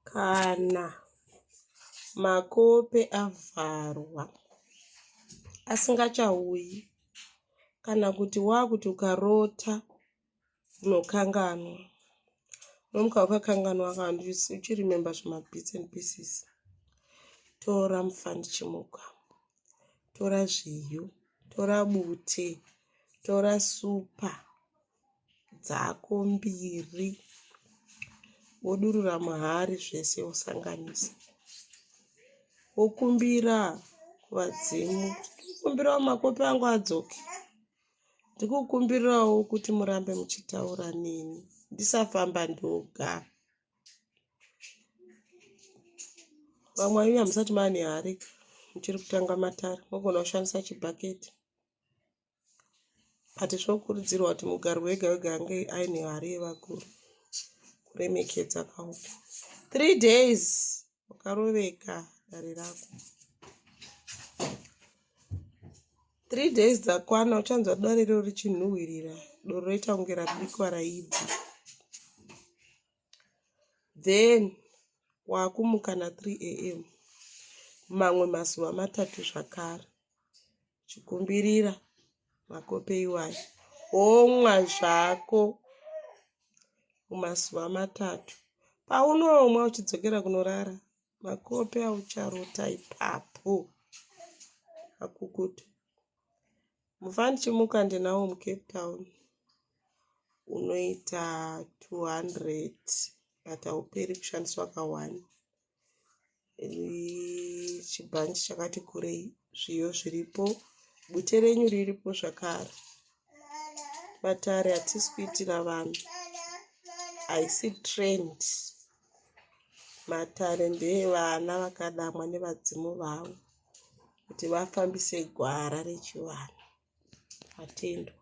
Kana makope avharwa asingachauyi kana kuti wakuti ukarota unokanganwa unomuka wakakanganwa kana uchirememba zvimabits and pieces tora mufandichimuka tora zviyo tora bute tora supa dzako mbiri wodurura muhari zvese wosanganisa wokumbira kuvadzimu kumbirawo makope angu adzoke ndikukumbirawo kuti murambe muchitaura neni ndisafamba ndoga vamwe vaive hamusati mane hari muchiri kutanga matare mogona kushandisa chibhaketi but zvokurudzirwa kuti mugari wega wega ange aine hari yevakuru kuremekedza kauku three days wakaroveka dare rako three days dzakwana uchanzwa dare riro richinhuhwirira doro roita kunge rabikwa raibva then wakumuka na 3 am mamwe mazuva matatu zvakare chikumbirira makope iwayo womwa zvako mumazuva matatu paunomwa uchidzokera kunorara makope aucharota ipapo akukutu mufa ndichimuka ndinawo mucape town unoita 200 but hauperi kushandiswa kawani chibhanji chakati kurei zviyo zviripo bute renyu riripo zvakare vatari hatisi kuitira vanhu haisi trend matare ndeevana vakadamwa nevadzimu vavo kuti vafambise gwara rechivanhu atendwa